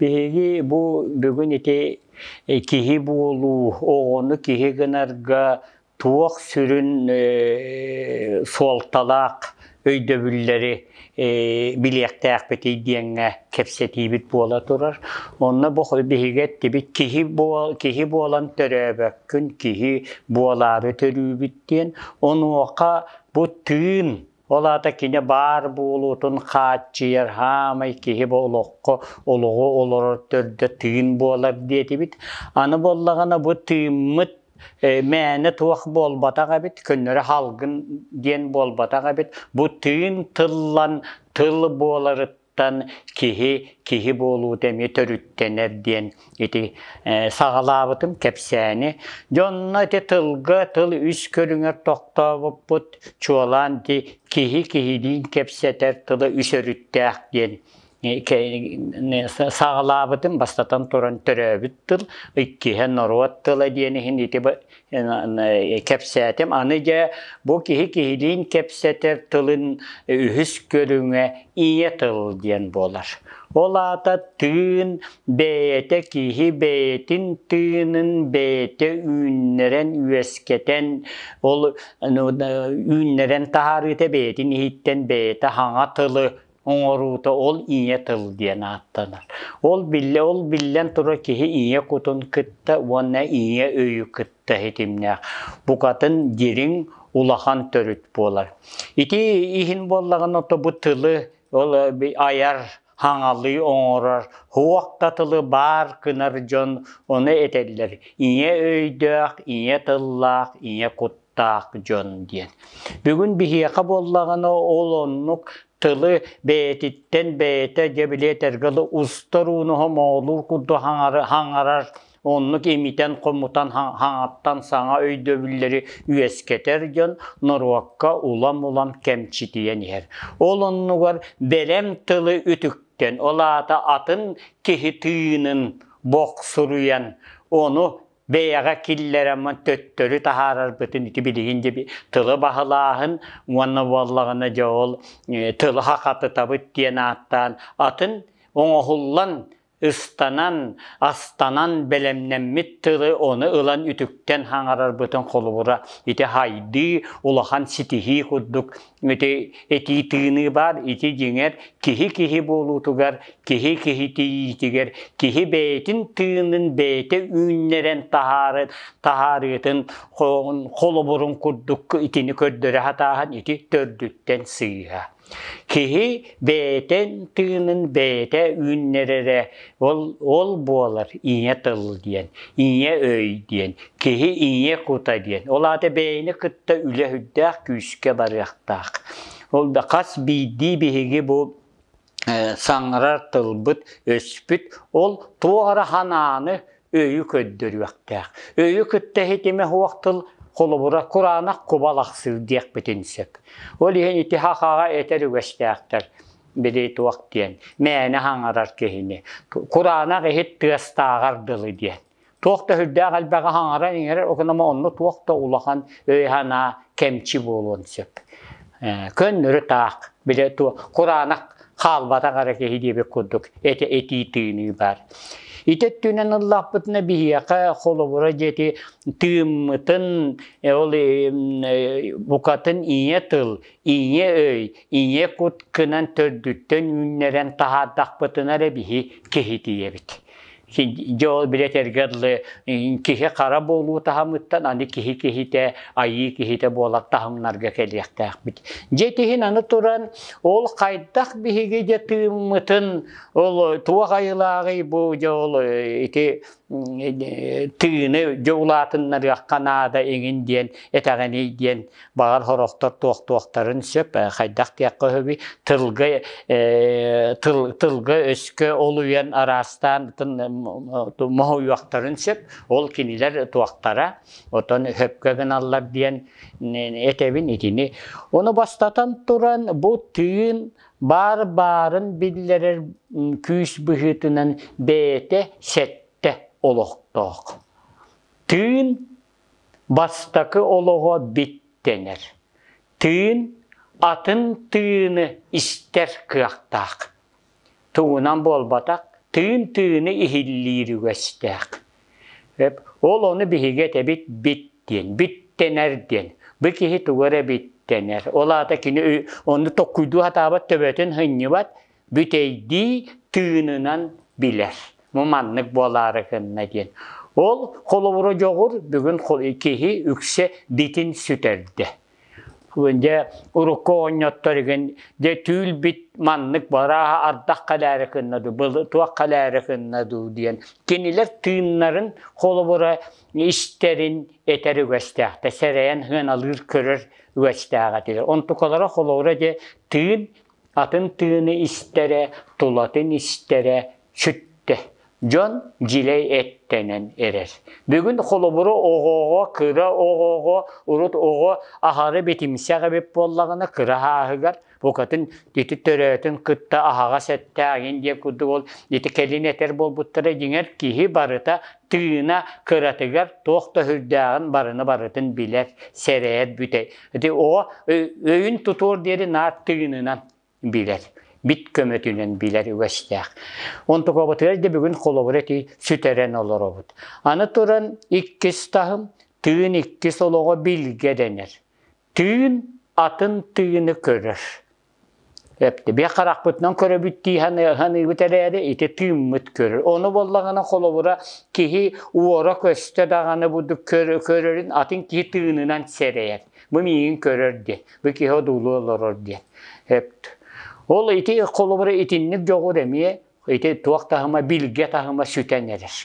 Биһиги бу бүгүн ити киһи буолуу, оҕону киһи гынарга туох сүрүн суолталаах өйдөбүллэри билиэхтээхпитий диэҥҥэ кэпсэтиибит буола турар. Онно бу биһиги эттибит киһи буол киһи буолан төрөөбөккүн, киһи буолаары төрүүбүт диэн. Онуоха бу тыын Ол аата кини баар буолуутун хааччыйар хаамай киһи бу олоххо олоҕу олорор төрдө тыын буолар диэтибит. Аны буоллаҕына бу тыыммыт Э, мээнэ туох буолбатах эбит, көннөрө халгын диэн буолбатах эбит. Бу тыын тыллан тыл буоларыттан Тан киһи киһи буолуута эмиэ төрүттэнэр диэн ити саҕалаабытым кэпсээни. Дьонно ити тылга тыл үс көрүҥэр тохтообуппут, чуолаан ити киһи киһилиин кэпсэтэр тыла үс өрүттээх диэн саҕалаабытым, бастатан туран төрөөбүт тыл, иккиһэ норуот тыла диэн иһин ити кэпсээтим. Аны дьэ бу киһи киһилиин кэпсэтэр тылын үһүс көрүҥэ ийэ тыл диэн буолар. Ол аата тыын бэйэтэ киһи бэйэтин тыынын бэйэтэ үүннэрэн, үөскэтэн, ол ну, үүннэрэн таһаарыыта бэйэтин иһиттэн бэйэтэ хаҥа тылы оҥоруута ол ийэ тыл диэн ааттанар. Ол биллэ ол биллэн тура киһи ийэ кутун кытта уонна ийэ өйү кытта ситимнээх. Букатын дириҥ улахан төрүт буолар. Ити иһин буоллаҕына то бу тылы ол айар хаҥалыы оҥорор туох да тылы баар гынар дьон ону этэллэр ийэ өйдөөх, ийэ тыллаах, ийэ кут таах дьон диэн. Бүгүн биһиэхэ буоллаҕына ол оннук тылы бэйэтиттэн бэйэтэ дьэ билиэ тергалы устар ууну моолуур курдук хаҥарар оннук имитэн хомутан хаҥаттан саҥа өйдөбүллэри үөскэтэр дьон норуокка улам-улам кэмчитийэн иһэр. Ол оннугар бэлэм тылы үтүктэн, ол аата атын киһи тыынын бохсуруйан, ону бэйэҕэ киллэрэммин төттөрү таһаарарбытын ити билигин дьэ тылы баһылааһын уонна буоллаҕына дьэ ол тылы хахатытабыт диэн ааттаан атын оҥоһуллан ыстанан астанан бэлэмнэммит тылы ону ылан үтүктэн хаҥарарбытын холобура ити хайдыы улахан ситиһии курдук Ити тыыныы баар, ити дьиҥэр киһи-киһи буолуутугар, киһи-киһи тиийиитигэр, киһи бэйэтин тыынын бэйэтэ үүннэрэн таһааран таһаарыытын холобурун курдук итини көрдөрө сатааһын ити төрдүттэн сыыһа. Киһи бэйэтин тыынын бэйэтэ үүннэрэрэ Ол, ол буолар ийэ тыл диэн, ийэ өй диэн, киһи ийэ кута диэн. Ол аата бэйэни кытта үлэ үрдээх күүскэ барыахтаах. Ол да хас биирдии биһиги бу э, саҥарар тылбыт, өспүт, ол туох эрэ санааны, өйү көрдөрүөхтээх. Өйү кытта ситимэ суох тыл холобура кураанах кубалахсыы диэхпитин сөп. Ол иһин ити хахаҕа этэр үгэстээхтэр. били туох диэн, мээнэ хаҥарар киһини, кураанах иһит тыастааҕар дылы диэн. Туох да үрдээх элбэҕи хаҥаран иҥэрэр, окунама онно туох да улахан өй-санаа кэмчи буолуон сөп. Көннөрү таах, били кураанах хаалбатах эрэ киһи диэбит курдук этии тыыныы баар. Ити өттүнэн ыллаахпытына биһиэхэ холобура диэти тыыммытын, ол букатын ийэ тыл, ийэ өй, ийэ кут кынан төрдүттэн үүннэрэн таһаардахпытына эрэ биһи киһи тиийэбит. Дьэ ол били этэргэ дылы киһи хара буолуу таһымыттан аны киһи киһитэ, айыы киһитэ буолар таһымнарга кэлиэхтээхпит. Дьэ итиһин аны туран ол хайдах биһиги дьэ тыыммытын ол туох айылааҕый бу дьэ ол ити тыыны дьэ улаатыннарыахха наада эҥин диэн этэҕиний диэн баҕар сорохтор туохтуохтарын сөп хайдах диэххэ сөбүй тылга тыл тылга өскө олуйан араастаан моһуйуохтарын сөп ол кинилэр туохтара отон сөпкө гыналлар диэн этэбин итини ону бастатан туран бу тыын баар баарын биллэрэр күүс быһыытынан бэйэтэ сэттэ олохтоох. Тыын бастакы олоҕо биттэнэр. Тыын атын тыыны истэр кыахтаах. Тугунан буолбатах, тыын тыыны иһиллиир үгэстээх. Ол ону биһиги этэбит бит диэн, биттэнэр диэн. Бу киһи тугу эрэ биттэнэр. Ол аата кини ону токкуйдуу сатаабат, төбөтүн сынньыбат, бүтэйдии тыынынан билэр. Бу маннык буолаары гынна диэн. Ол холобура дьоҕур бүгүн киһи үксэ дитин сүтэрдэ. Дьэ, урукку оҕонньоттор игин дьэ түүл-бит маннык барааһа ардах калаары кынна дуу, был туох калаары кынна дуу диэн кинилэр тыыннарын холобура истэрин этэр үгэстээхтэ, сэрэйэн хыаналыыр көрөр үгэстээҕ этилэр. Онтукалара холобура дьэ тыын атын тыыны истэрэ, тулатын истэрэ сүттэ. Дьон дьилэй эттэнэн эрэр. Бүгүн холобуру оҕоҕо, кыра оҕоҕо, урут оҕо аһары битимсэх эбит буоллаҕына, кыра ааһыгар букатын ити төрөөтүн кытта аһаҕас эттээҥин диэн курдук ол ити кэлин этэр буолбуттара дьиҥэр киһи барыта тыына кыратыгар туох да үрдээҕин барыны барытын билэр, сэрэйэр бүтэ. Ити оҕо өйүн тутуор диэри наар тыынынан билэр бит көмөтүнэн билэр үгэстээх. Онтукабытыгар да бүгүн холобур эти сүтэрэн олоробут. Аны туран иккис таһым тыын иккис олоҕо билгэ дэнэр. Тыын атын тыыны көрөр. Бе харахпытынан көрөбүт дии ханыыбыт эрээри ити тыыммыт көрөр. Ону боллагана холобура киһи уора көстө даҕаны буду көрөрүн атын киһи тыынынан сэрэйэр. Бу миигин көрөр ди. Бу киһи одуулуу олорор диэн. Эп. Ол ити холобура итинник дьоҕур эмиэ ити туох таһыма билге таһыма сүтэн эрэр.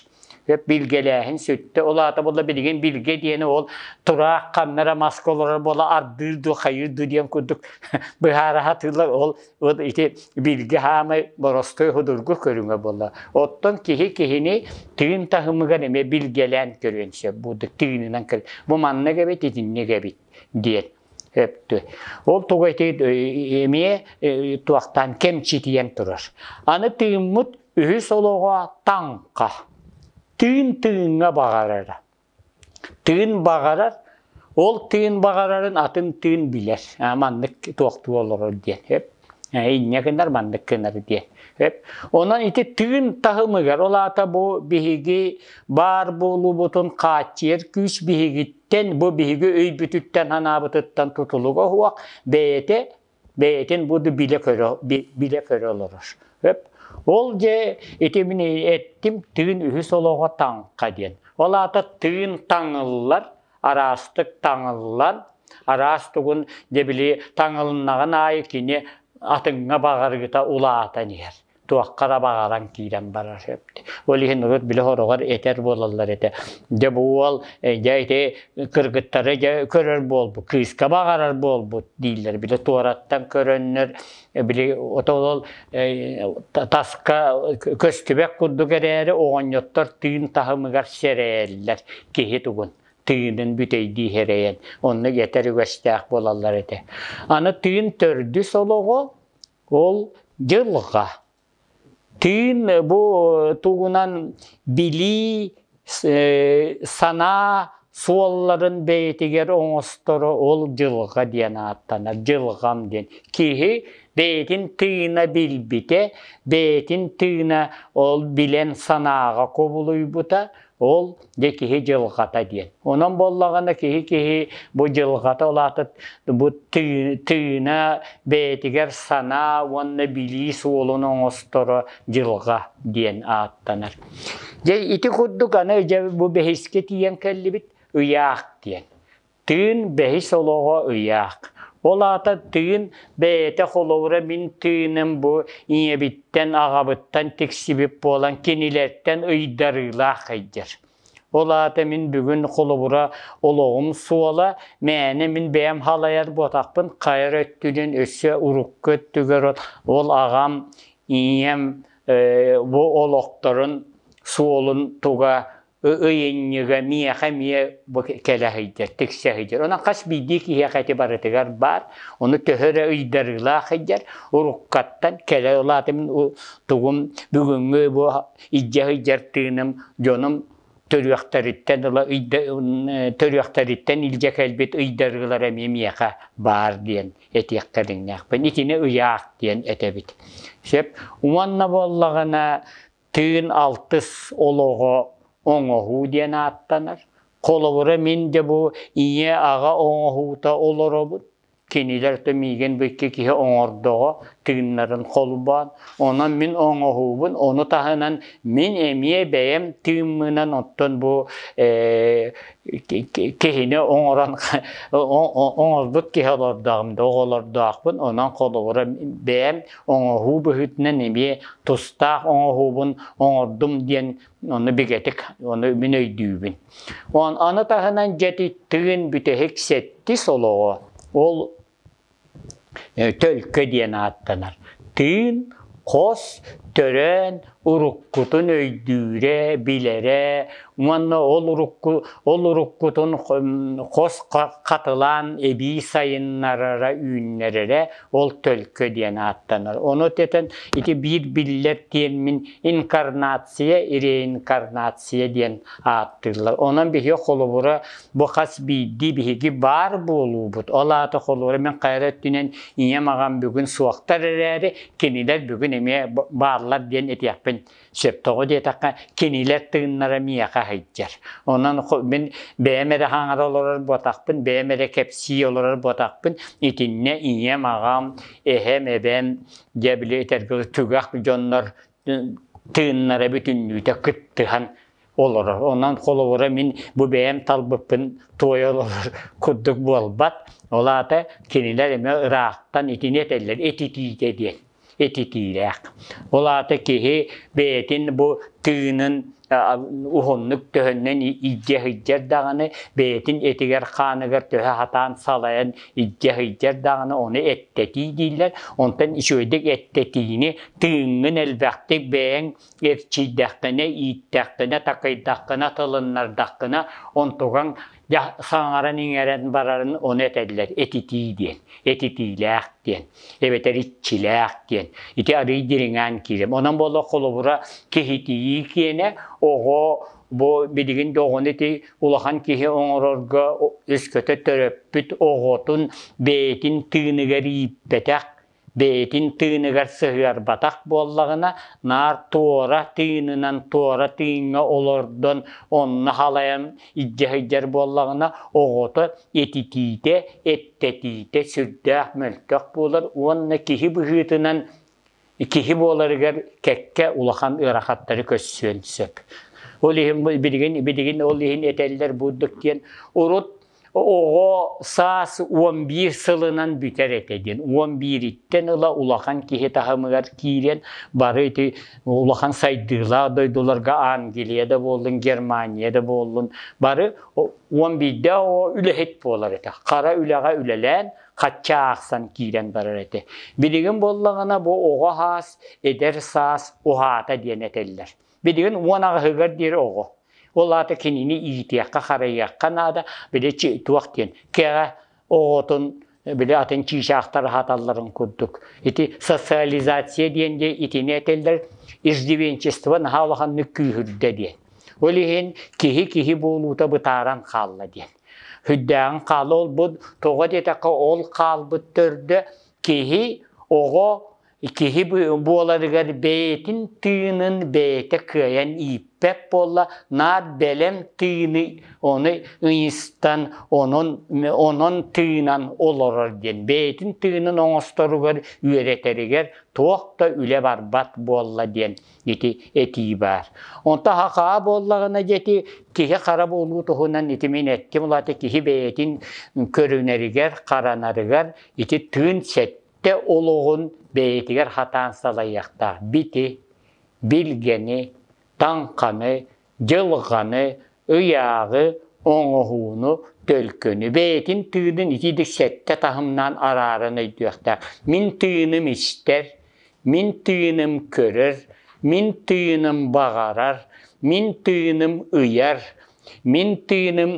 Өп билгэлээһин сүттэ. Ол аата була билигин билге диэни ол тураах ханнара маска олорор бола ардыыр ду хайыр ду диэн курдук быһаараха тыылар ол ити билге хаамай боростой худургу көрүҥө бола. Оттон киһи киһини тыын таһымыгар эмиэ билгэлээн көрүөн сөп. Бу тыынынан көрү. Бу маннык эбит, итинник эбит. диэн өптү. Ол тугу эмиэ туохтан кэмчитийэн турар. Аны тыыммыт үһүс олоҕо таҥха. Тыын тыыҥҥа баҕарара. Тыын баҕарар, ол тыын баҕарарын атын тыын билэр. Маннык туохтуу олорор диэн. инньэ гыннар маннык гынар диэ онон ити тыын таһымыгар ол аата бу биһиги баар буолуубутун хааччыйар күүс биһигиттэн бу биһиги өйбүтүттэн анаабытыттан тутулуга уһуох бэйэтэ бэйэтин бу билэ көрө билэ көрө олорор өп ол дьэ ити мин эттим тыын үһүс олоҕо таҥха диэн ол аата тыын таҥыллар араастык таҥыллан, араас тугун дьэ били таҥылыннаҕын аайы кини атыҥҥа баҕарыыта улаатан иһэр туохха да баҕаран киирэн барар сөп. Ол иһин урут били хороҕор этэр буолаллар этэ. Дьэ бу уол э, дьэ ити кыргыттары дьэ көрөр буолбут, кыыска баҕарар буолбут дииллэр. Били туораттан көрөннөр били отолол таска көстүбэк курдук эрээри оҕонньоттор тыын таһымыгар сэрэйэллэр киһи тугун тыынын бүтэйдии эрэйэн онно гэтэр үгэстээх буолаллар этэ аны тыын төрдүс олоҕо ол дьылҕа Тыын бу тугунан билии, санаа суолларын бэйэтигэр оҥосторо ол дьылҕа диэн ааттанар, дьылҕам диэн. Киһи бэйэтин тыына билбитэ, бэйэтин тыына ол билэн санааҕа кубулуйбута, Ол дьэ киһи дьылҕата диэн. Онон буоллаҕына киһи-киһи бу дьылҕата улаатыт бу тыына бэйэтигэр санаа уонна билии суолун оҥосторо дьылҕа диэн ааттанар. Дьэ ити курдук аны дьэ бу бэһискэ тиийэн кэллибит ыйаах диэн. Тыын бэһис олоҕо ыйаах. Ол аата тыын бэйэтэ холобура мин тыыным бу ийэбиттэн, аҕабыттан тиксибит буолан кинилэртэн ыйдарыылаах эйдэр. Ол аата мин бүгүн холобура олоҕум суола, мээнэ мин бэйэм халайар буотахпын хайа эрэ өттүнэн өссө урукку өттүгэр ол аҕам, ийэм бу олохторун суолун туга ыйынньыга миэхэ эмиэ бу кэлэ сылдьар, тиксэ сылдьар. Онон хас биирдии киһиэхэ ити барытыгар баар. Ону төһө эрэ ыйдарыылаах сылдьар, уруккаттан кэлэ ылаатым тугум бүгүҥҥү бу илдьэ сылдьар тыыным дьонум төрүөхтэриттэн ыла төрүөхтэриттэн илдьэ кэлбит ыйдарыылар эмиэ миэхэ баар диэн этиэхтэриннээхпин. Итини ыйаах диэн этэбит. Сөп. Уонна буоллаҕына Тыын алтыс олоҕо оҥоһуу диэн ааттанар. Холобура, мин дьэ бу ийэ-аҕа оҥоһуута олоробут. Кинилэр то миигин бу икки киһи оҥордоҕо тыыннарын холбоон. Онон мин оҥоһуубун, ону таһынан мин эмиэ бэйэм тыыммынан оттон бу э, киһини оҥорон оҥорбут киһи олордоҕум да оҕолордоохпун. Онон холобура бэйэм оҥоһуу быһыытынан эмиэ тустаах оҥоһуубун оҥордум диэн ону бигэтик ону мин өйдүүбүн. Аны таһынан дьэтиттыын бүтэһик сэттис олоҕо ол төлкө диэн ааттанар. Тыын, хос, төрөөн, уруккутун өйдүүрэ, билэрэ уонна ол урукку ол уруккутун хос хатылаан эбии сайыннарара, үүннэрэрэ ол төлкө диэн ааттанар. Ону тэтэн ити биир биллэр тиэммин инкарнация, реинкарнация диэн ааттыыллар. Онон биһиги холобура бу хас биирдии биһиги баар буолуубут. Ол аата холобура мен хайа өттүнэн ийэм аҕам бүгүн суохтар эрээри Кинилэр бүгүн эмиэ бааллар диэн этиэхпин сөп. Тоҕо диэтэххэ, кинилэр тыыннара миэхэ сылдьар. Онон мин бэйэм эрэ хаҥара олорор буотахпын, бэйэм эрэ кэпсии олорор буотахпын, итиннэ ийэм, аҕам, эһэм, эбэм, дьэ били этэргэ түгэх дьоннор тыыннара бүтүннүүтэ кыттыһан олорор. Онон холобура мин бу бэйэм талбыппын туойа олорор курдук буолбат. Ол аата кинилэр эмэ ыраахтан итини этэллэр этитиитэ диэн этитиилээх. Ол аата киһи бэйэтин бу тыынын уһуннук төһөннөн илдьэ сылдьар даҕаны бэйэтин этигэр-хааныгар төһө хатаан салайан илдьэ сылдьар даҕаны ону эттэтии дииллэр. Онтон үчүгэйдик эттэтиини тыыҥҥын элбэхтик бэйэҥ эрчийдэххинэ, ииттэххинэ, такыйдаххына, тылыннардаххына, онтугаҥ саҥаран-иҥэрэн барарын ону этэллэр этитии диэн. Этитиилээх диэн, эбэтэр иччилээх диэн. Ити арыый дириҥээн киирэр. Онон буолла холобура киһитийии киэнэ оҕо бу билигин да оҕону ити улахан киһи оҥорорго өскөтө төрөппүт оҕотун бэйэтин тыыныгар ииппэтэх бэйэтин тыыныгар сыһыарбатах буоллаҕына, наар туора тыынынан туора тыыҥҥа олордон онно халайан илдьэ сылдьар буоллаҕына, оҕото этитиитэ, эттэтиитэ сүрдээх мөлтөх буолар уонна киһи быһыытынан киһи буоларыгар кэккэ улахан ыарахаттары көрсүөн сөп. Ол иһин билигин билигин ол иһин этэллэр бурдук диэн урут Оҕо саас уон биир сылынан бүтэр этэ диэн. Уон биириттэн ыла улахан киһи таһымыгар киирэн бары ити улахан сайдыылаах дойдуларга Англия да буоллун, Германия да буоллун, бары уон биирдэ үлэһит буолар этэ. Хара үлэҕэ үлэлээн, хачча аахсан киирэн барар этэ. Билигин буоллаҕына бу оҕо саас, эдэр саас уһаата диэн этэллэр. Билигин уон аҕыһыгар диэри оҕо. Ол аата кинини иитиэххэ-харайыахха наада, били туох диэн кэҕэ оҕотун били атын чыычаахтар аһаталларын курдук. Ити социализация диэн де итини этэллэр иждивенчество наһаа улаханнык күүһүрдэ диэн. Ол иһин киһи киһи буолуута бытааран хаалла диэн. Хүддээҕин хаала олбут, тоҕо диэтэххэ ол хаалбыт төрдө киһи, оҕо Киһи буоларыгар бэйэтин тыынын бэйэтэ кыайан ииппэт буолла, наар бэлэм тыыны ону ыйыстан, онон, онон тыынан олорор диэн. Бэйэтин тыынын оҥосторугар, үөрэтэригэр туох да үлэ барбат буолла диэн ити этии баар. Онто хахаа буоллаҕына диэти киһи хара буолуу туһунан ити мин эттим улаата киһи бэйэтин көрүнэригэр, харанарыгар ити тыын сэттэ Тэ олоҕун бэйэтигэр хатаан салайыахтаах бити, билгэни, таҥханы, дьылҕаны, ыйааҕы, оҥоһууну, төлкөнү бэйэтин тыынын итиитик сэттэ таһымнаан арааран өйдүөхтээх. Мин тыыным истэр, мин тыыным көрөр, мин тыыным баҕарар, мин тыыным ыйар, мин тыыным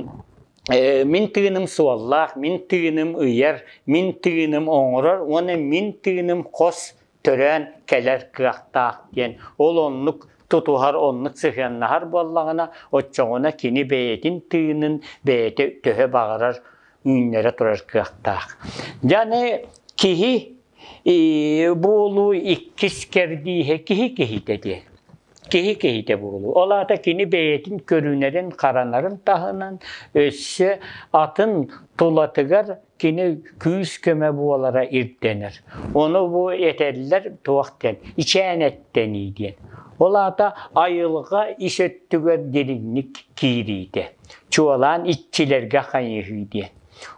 мин тыыным суоллаах, мин тыыным ыйар, мин тыыным оҥорор уонна мин тыыным хос төрөөн кэлэр кыахтаах диэн. Ол оннук тутуһар, оннук сыһыаннаһар буоллаҕына, оччоҕуна кини бэйэтин тыынын бэйэтэ төһө баҕарар үүннэрэ турар кыахтаах. Дьаны киһи буолуу иккис кэрдииһэ киһи киһитэ диэн. киһи киһитэ буолуу. Ол аата кини бэйэтин көрүнэрин-харанарын таһынан өссө атын тулатыгар кини күүс-көмө буолара ирдэнэр. Ону бу этэллэр туох диэн, ичээнэттэнии диэн. Ол аата айылҕа ис өттүгэр дириҥник киириитэ. Чуолаан иччилэргэ хайыһыы диэн.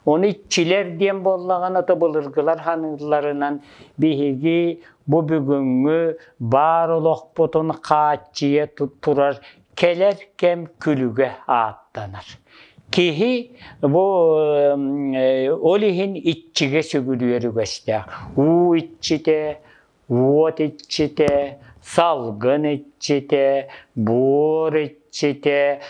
Ону иччилэр диэн буоллаҕына, былыргылар саныылларынан биһиги бу бүгүҥҥү баар олохпутун хааччыйа турар кэлэр кэм күлүгэ ааттанар. Киһи бу ол иһин иччигэ сүгүрүйэр үгэстээх. Уу иччитэ, уот иччитэ, салгын иччитэ, буор иччитэ, сите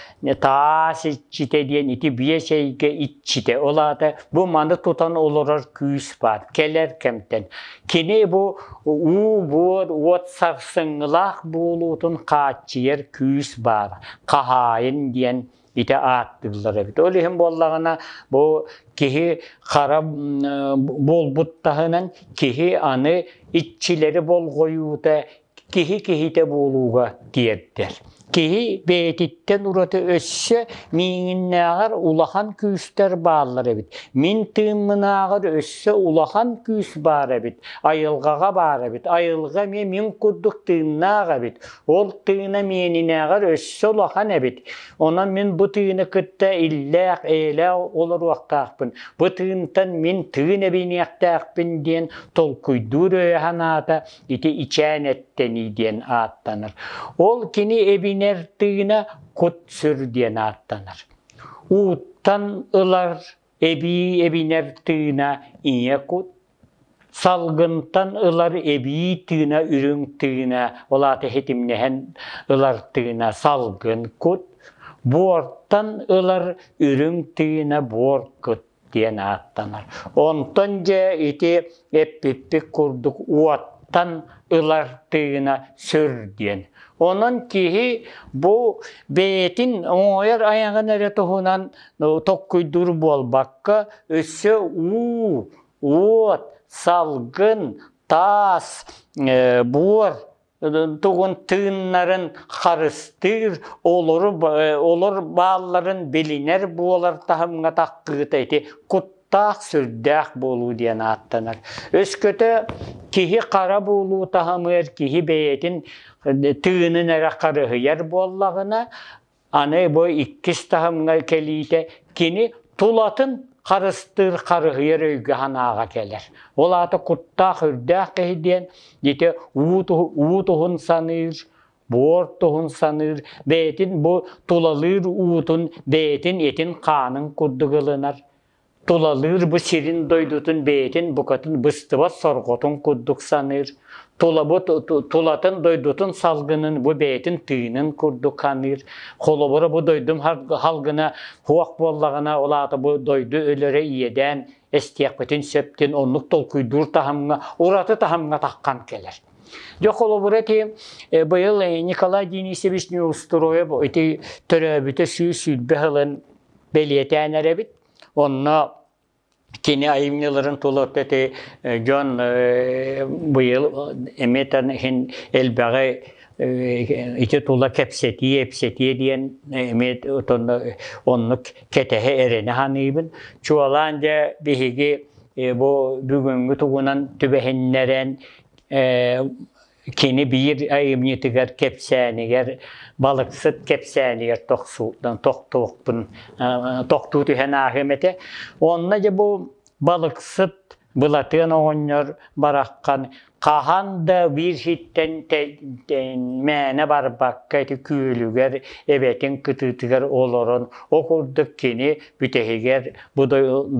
таас иччитэ диэн ити биэс эйгэ иччитэ ол аата бу маны тутан олорор күүс баар кэлэр кэмтэн кини бу уу буор уот сарсыҥҥылаах буолуутун хааччыйар күүс баар хаһаайын диэн ити ааттыыллар эбит ол иһин буоллаҕына бу киһи хара буолбут таһынан киһи аны иччилэри болҕойуута киһи киһитэ буолууга тиэрдэр. Киһи бэйэтиттэн ураты өссө миигиннээҕэр улахан күүстэр бааллар эбит. Мин тыыммынааҕар өссө улахан күүс баар эбит. Айылҕаҕа баар эбит. Айылҕа эмиэ мин курдук тыыннаах эбит. Ол тыына миэнинээҕэр өссө улахан эбит. Онон мин бу тыыны кытта иллээх, эйэлээх олоруохтаахпын. Бу тыынтан мин тыын эбиниэхтээхпин диэн толкуйдуур өйө санаата ити ичээн эттэнии диэн ааттанар. Ол кини эбинэр тыына кут-сүр диэн ааттанар. Ууттан ылар эбии эбинэр тыына ийэ кут, салгынтан ылар эбии тыына үрүҥ тыына, ол аата хитимнэһэн ылар тыына салгын кут, буортан ылар үрүҥ тыына буор кут. диэн ааттанар. Онтон дьэ ити эппиппит курдук уоттан ылар тыына сүр диэн. Онон киһи бу бэйэтин оҥойор айаҕын эрэ туһунан токкуйдуур буолбакка, өссө уу, уот, салгын, таас, буор тугун тыыннарын харыстыыр, олору, олор баалларын билинэр буолар таһымҥа таххыыта ити куттаах, сүрдээх буолуу диэн ааттанар. Өскөтө киһи хара буолуу таһымыгар киһи бэйэтин тыынын эрэ харыһыйар буоллаҕына, Аны бу иккис таһымҥа кэлиитэ кини тулатын харыстыыр, харыһыйар өйгө санааҕа кэлэр. Ол аата куттаах, үрдээх киһи диэн ити уу туһун саныыр, буор туһун саныыр, бэйэтин бу тулалыыр уутун бэйэтин этин хаанын курдук ылынар. Тулалыыр бу сирин-дойдутун бэйэтин букатын быстыбат сорҕотун курдук саныыр, тулабыт тулатын дойдутун салгынын бу бэйэтин тыынын курдук ханыыр. Холобура бу дойдум халгына хуох буоллаҕына, ол аата бу дойду өлөрө иэдээн эстиэхпитин сөптүн оннук толкуйдуур таһымҥа, ураты таһымҥа таххан кэлэр. Дьэ холобура ити быйыл Николай Денисович Неустроев ити төрөөбүтэ сүүс сүүрбэ сылын бэлиэтээн эрэбит. Онно кини айымньыларын толордоти дьон быйыл эметэн иһин элбэҕи ити тула кэпсэтии, эпсэтии диэн эмиэ оннук кэтэһэ эрэнэ саныыбын. Чуолаан дьэ биһиги бу бүгүҥҥү тугунан түбэһиннэрэн Кини биир айымньытыгар кэпсээнигэр, балыксыт кэпсээнигэр тохсуутунан тохтуохпун, тохтуу түһэн ааһыам этэ. Онно дьэ бу балыксыт Былатыан оҕонньор бараххан хаһан да биирситтэн мээнэ барбакка ити күөлүгэр эбэтин кытыытыгар олорон ол курдук кини бүтэһигэр бу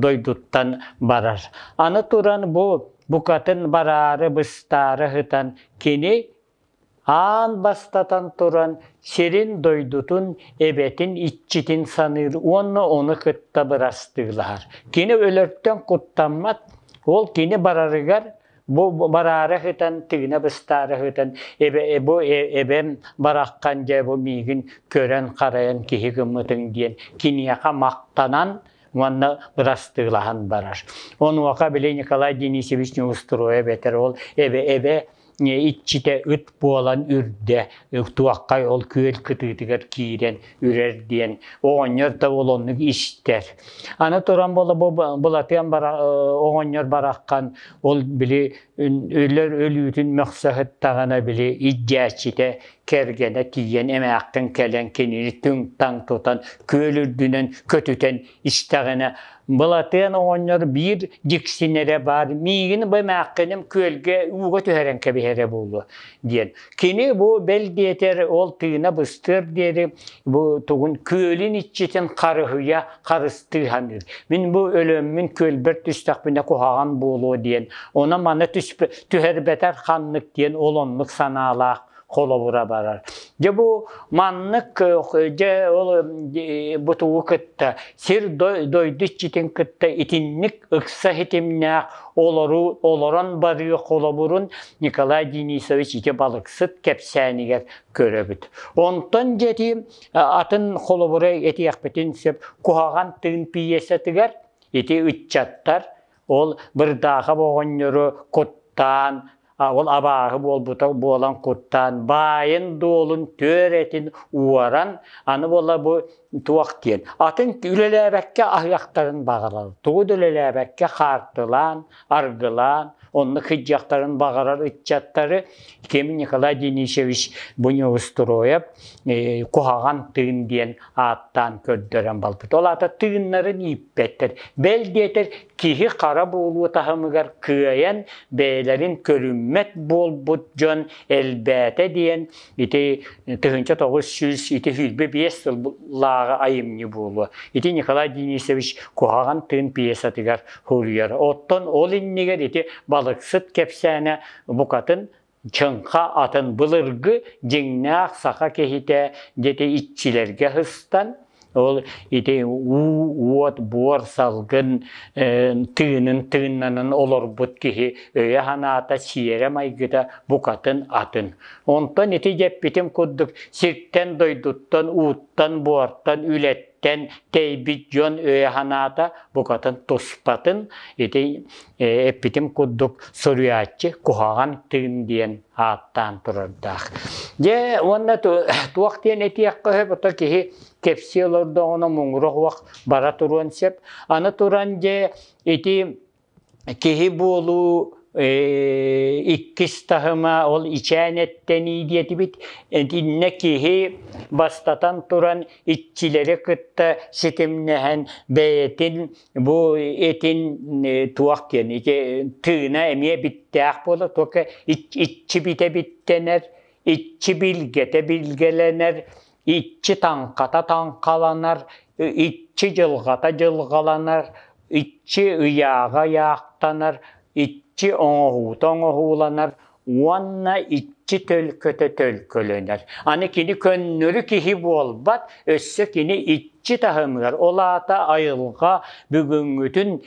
дойдуттан барар. Аны туран бу букатын бараары быстаары ыһытан кини аан бастатан туран сирин дойдутун эбэтин иччитин саныыр уонна ону кытта бырастыылаһар кини өлөртөн куттаммат ол кини барарыгар бу бараары ыһытан тыына быстаары ыһытан эбэ бу эбэм бараххан дьэ бу миигин көрөн харайан киһи гыммытыҥ диэн киниэхэ махтанан уонна бырастыылаһан барар. Онуоха били Николай Денисович неустроя бэтэр ол эбэ-эбэ иччитэ ыт буолан үрдэ туоххай ол күөл кытыытыгар киирэн үрэр диэн оҕонньор да олоннук истэр аны туран былатыан оҕонньор бараххан ол били өлөр өлүүтүн мөхсөһүт таҕана били ичдээччитэ кэргэнэ тиийэн эмээххин кэлэн кинини түҥ-таҥ тутан күөл үрдүнэн көтүтэн истэҕинэ Былатыан оҕонньор биир дьиксинэрэ баар миигин бу эмээххиним күөлгэ ууга түһэрэн кэбиһэрэ буолуо диэн. Кини бу бэл диэтэр ол тыына быстыар диэри бу тугун күөлүн иччитин харыһыйа харыстыы саныыр. Мин бу өлөммүн күөлбэр түстэхпинэ куһаҕан буолуо диэн, оны-маны түһэрбэтэр ханнык диэн олоннук санаалаах холобура барар. Дьэ бу маннык дьэ ол бу тугу кытта сир дойду иччитин кытта итинник ыкса хитимнээх олору олорон барыы холобурун Николай Денисович ити балыксыт кэпсээнигэр көрөбүт. Онтон дьэти атын холобуру этиэхпитин сөп куһаҕан тыын пьесатыгар ити ыччаттар ол бырдааха оҕонньору куттаан ол абааһы буолбута буолан куттаан баайын дуолун түөр этин уоран аны буола бу туох диэн атын үлэлээбэккэ аһыахтарын баҕалар тугу да үлэлээбэккэ хаартылаан аргылаан, онно кыдьахтарын баҕарар ыччаттары кем Николай Денисович Буневустроев э, куһаҕан тыын диэн ааттаан көрдөрөн балбыт. Ол аата тыыннарын ииппэттэр. Бэл диэтэр, киһи хара буолуу таһымыгар кыайан, бэйэлэрин көрүммэт буолбут дьон элбээтэ диэн Ити тыһынча тоғыз сүүс ити сүүрбэ биэс сыллааҕы айымньы буолуо. Ити Николай Денисович куһаҕан тыын пьесатыгар суруйар. Оттон ол иннигэр ити балыксыт кэпсээнэ букатын чыҥха атын былыргы дьиҥнээх саха киһитэ дети иччилэргэ һыстан Ол ити уот, буор, салгын тыынын тыыннанан олорбут киһи өйө-санаата, сиэрэ-майгыта букатын атын. Онтон ити дьэппитим курдук сиртэн-дойдуттан, ууттан, буортан, үлэттэн тэйбит дьон өйө-санаата букатын туспатын ити эппитим курдук суруйааччы куһаҕан тыын диэн ааттаан турардаах. Дьэ, уонна туох диэн этиэх көһө, бото киһи кэпсиэ олордоҕуна муҥура уох бара туруон сөп. Аны туран дьэ, ити киһи буолуу иккис таһыма ол ичээн эттэнии диэтибит итиннэ киһи бастатан туран иччилэри кытта ситимнэһэн бэйэтин бу этин туох диэн ити тыына эмиэ биттээх буола только иччи битэ биттэнэр иччи билгэтэ билгэлэнэр иччи таҥхата таҥхаланар иччи дьылҕата дьылҕаланар иччи ыйааҕа ыйаахтанар иччи оҥоһуута оҥоһууланар уонна икки төлкөтө төлкөлөнөр. Аны кини көннөрү киһи буолбат, өссө кини иччи таһымыгар, ол аата айылҕа бүгүҥҥүтүн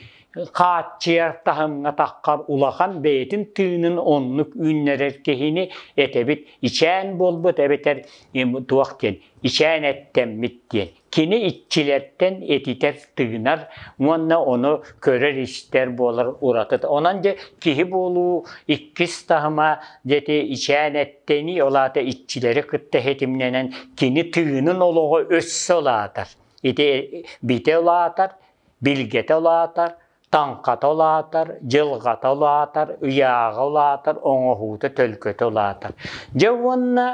хааччыйар таһымҥатахха улахан бэйэтин тыынын оннук үүннэрэр киһини этэбит. Ичээн буолбут эбэтэр туох диэн, ичээн эттэммит диэн. Кини иччилэртэн этитэр, тыынар уонна ону көрөр-истэр буолар ураты. Онон дьэ киһи буолуу иккис таһыма дьэти ичээн эттэнии, ол аата иччилэри кытта ситимнэнэн кини тыынын олоҕо өссө улаатар. Ити битэ улаатар, билгэтэ улаатар, Таҥхата улаатар, дьылҕата улаатар, ыйааҕа улаатар, оҥоһуута, төлкөтө улаатар. Дьэ уонна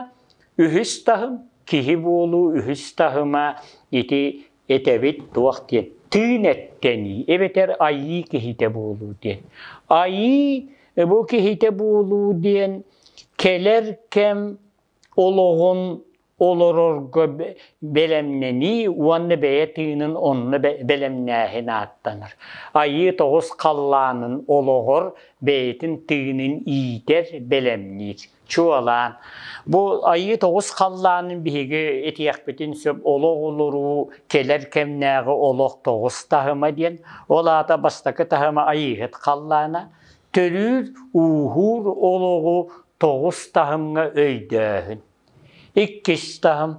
үһүс таһым, киһи буолуу үһүс таһыма ити этэбит туох диэн тыын эттэнии эбэтэр айыы киһитэ буолуу диэн. Айыы бу киһитэ буолуу диэн кэлэр кэм олоҕун олорорго бэлэмнэнии уонна бэйэ тыынын онно бэлэмнээһин ааттанар. Айыы тоҕус халлаанын олоҕор бэйэтин тыынын иитэр, бэлэмниир. Чуолаан бу Айыы тоҕус халлаанын биһиги этиэхпитин сөп олох олоруу кэлэр кэмнээҕи олох тоҕус таһыма диэн. Ол аата бастакы таһыма Айыыһыт халлаана, төрүүр, ууһуур олоҕу тоҕус таһымҥа өйдөөһүн. Иккис таһым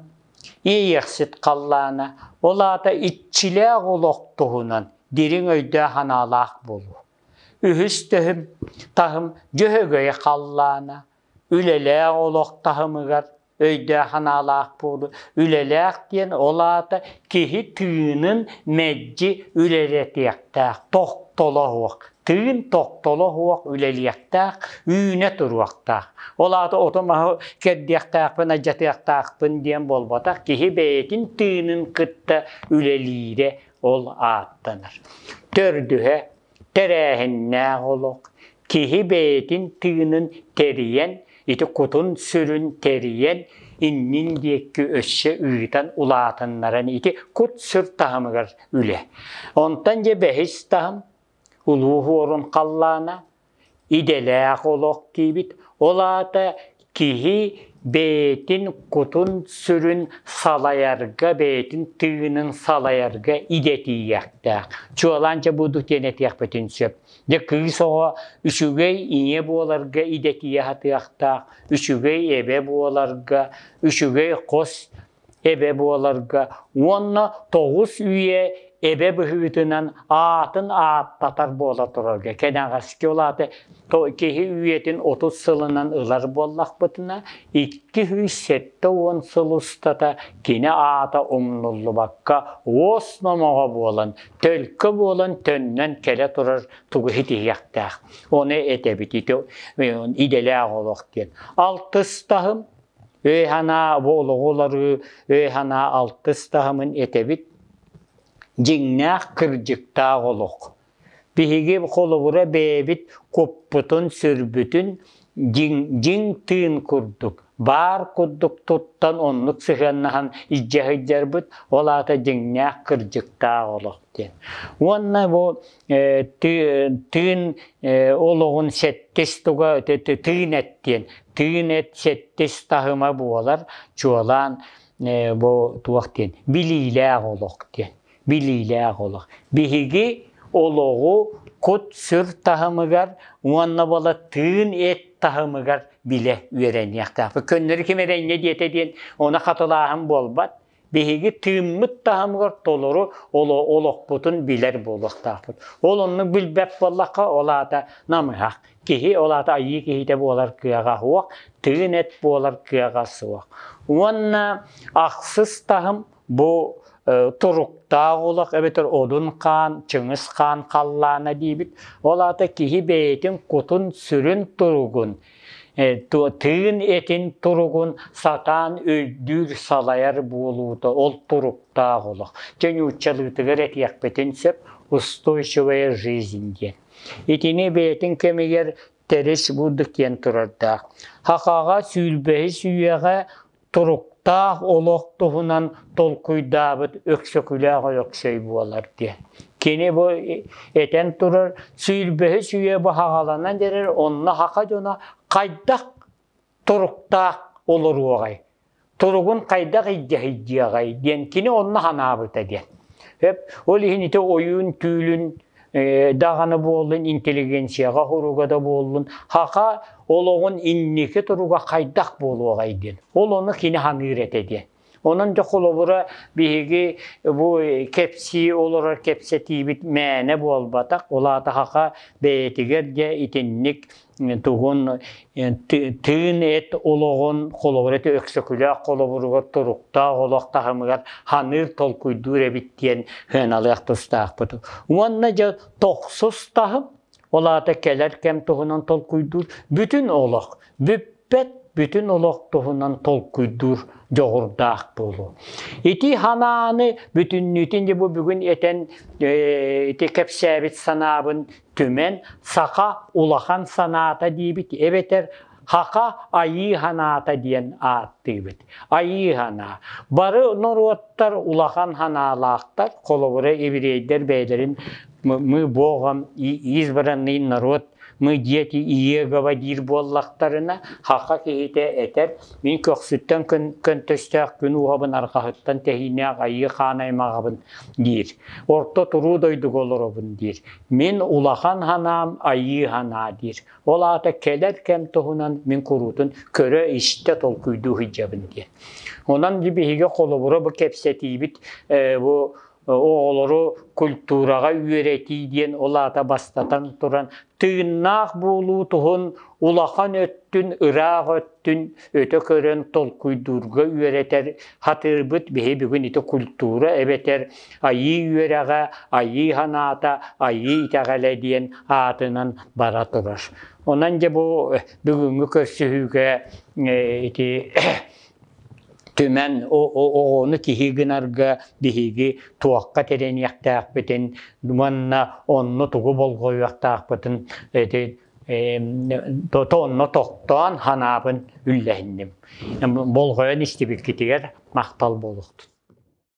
иэйэхсит халлаана, ол аата иччилээх олох туһунан дириҥ өйдөөх-санаалаах буолуу. Үһүс төһүм таһым дьөһөгөй халлаана, үлэлээх олох таһымыгар өйдөөх-санаалаах буолуу. Үлэлээх диэн ол аата киһи тыынын мэлдьи үлэлэтиэхтээх, тохтоло суох. тыын тохтоло суох үлэлиэхтээх, үүнэ туруохтаах. Ол аата ото-маһы кэрдиэхтээхпин, адьатыахтаахпын диэн буолбатах, киһи бэйэтин тыынын кытта үлэлиирэ ол ааттанар. Төрдүһэ, тэрээһиннээх олох. Киһи бэйэтин тыынын тэрийэн, ити кутун-сүрүн тэрийэн, иннин диэки өссө ыытан улаатыннаран ити кут-сүр таһымыгар үлэ. Онтон дьэ бэһис таһым Улуу Уорун халлаана идэлээх олох диибит, ол аата киһи бэйэтин кутун-сүрүн салайарга, бэйэтин тыынын салайарга идэтийиэхтээх. Чуолаан дьэ бу дук диэн этиэхпитин сөп. Дьэ кыыс оҕо үчүгэй ийэ буоларга идэтийэ сатыахтаах, үчүгэй эбэ буоларга, үчүгэй хос эбэ буоларга уонна тоҕус үйэ эбэ быһыытынан аатын ааттатар буола турарга кэнэҕэски улааты киһи үйэтин отут сылынан ылар буоллахпытына икки сүүс сэттэ уон сыл устата кини аата умнуллубакка уос номоҕо буолан төлкө буолан төннөн кэлэ турар тугу ситиһиэхтээх ону этэбит ити идэлээх олох диэн алтыстаһым Өй-санаа бу олоҕу уларыы өй-санаа алтыс таһымын этэбит. Дьиҥнээх кырдьыктаах олох. Биһиги холобура бэйэбит куппутун-сүрбүтүн дьиҥ, дьиҥ тыын курдук, баар курдук туттан оннук сыһыаннаһан илдьэ сылдьарбыт, ол аата дьиҥнээх кырдьыктаах олох диэн. Уонна бу тыын олоҕун сэттис туга тыын эт диэн тыын эт сэттис таһыма буолар чуолаан бу туох диэн билиилээх олох диэн билиилээх олох биһиги олоҕу кут-сүр таһымыгар уонна бола тыын эт таһымыгар билэ үөрэниэхтээх көннөрү ким эрэнньэ диэтэ диэн оны хатылааһын буолбат биһиги тыыммыт таһымыгар толору олохпутун билэр буолуохтаахпыт. Ол онну билбэт буоллахха, ол аата намыһах. Киһи, ол аата айыы киһитэ буолар кыаҕа суох, тыын эт буолар кыаҕа суох. Уонна ахсыс таһым бу туруктаах олох эбэтэр одун хаан, Чыҥыс хаан халлаана диибит. Ол аата киһи бэйэтин кутун-сүрүн туругун тыын этин туругун сатаан өйдүүр, салайар буолуута ол туруктаах олох. Дьэ нууччалыытыгар этиэхпитин сөп устойчивая жизнь диэн. Итини бэйэтин кэмигэр терес буддық диэн турардаах. Хахаҕа сүүрбэһис үйэҕэ туруктаах олох туһунан толкуйдаабыт Өксөкүлээх Өксөй буолар диэн. Кини бу этэн турар сүүрбэһис үйэ баһаҕаланан эрэр онно хака дьоно хайдах туруктаах олоруоҕай? Туругун хайдах илдьэһийдиэҕэй диэн кини онно санаабыта диэн. Ол иһин ити ойуун түүлүн даҕаны буоллун интеллигенцияҕа хоруга да буоллун хаха олоҕун инники туруга хайдах буолуоҕай диэн ол ону кини саныыр этэ диэн Онон дьэ холобура биһиги бу кэпсии олорор кэпсэтиибит мээнэ буолбатах. Ол аата хаха бэйэтигэр дьэ итинник тугун тыын эт олоҕун холобур эти өксөкүлээх холобуругар туруктаах олох таһымыгар ханыыр толкуйдуур эбит диэн сыаналыах тустаахпыт уонна дьэ тохсус таһым ол аата кэлэр кэм туһунан толкуйдуур бүтүн олох бүппэт бүтүн олох туһунан толкуйдуур дьоҕурдаах буолуо. Ити санааны бүтүннүүтүн бу бүгүн этэн ити кэпсээбит санаабын Түмэн саха улахан санаата диэбит эбэтэр Хаха айыы ханаата диэн ааттыыбыт. Айыы ханаа. Бары норуоттар улахан ханаалаахтар, холобура еврейдэр бэйэлэрин мы Богом избранный народ мы дети Иегова диир буоллахтарына, хаха киһитэ этэр, мин көхсүттэн көнтөстөөх күн уһабын арқаһыттан тэһиинээх айыы хаан аймағабын диир. Орто туруу дойдуга олоробун диир. Мин улахан санаам айыы санаа диир. Ол аата кэлэр кэм туһунан мин куруутун көрө-истэ толкуйдуу сылдьабын диэн. Онон биһиги холобура бу кэпсэтиибит бу оҕолору культураҕа үөрэтии диэн ол аата бастатан туран тыыннаах буолуу туһун улахан өттүн ыраах өттүн өтө көрөн толкуйдуурга үөрэтэр хатыырбыт биһи бүгүн ити культура эбэтэр Айыы үөрэҕэ, Айыы санаата, Айыы итэҕэлэ диэн аатынан бара турар. Онон дьэ бу бүгүҥҥү көрсүһүүгэ ити түмэн оҕону киһи гынарга биһиги туохха тирэниэхтээхпитин уонна онно тугу болҕойуохтаахпытын онно тохтоон санаабын үллэһинним. Болҕойон истибиккитигэр махтал буолуохтун.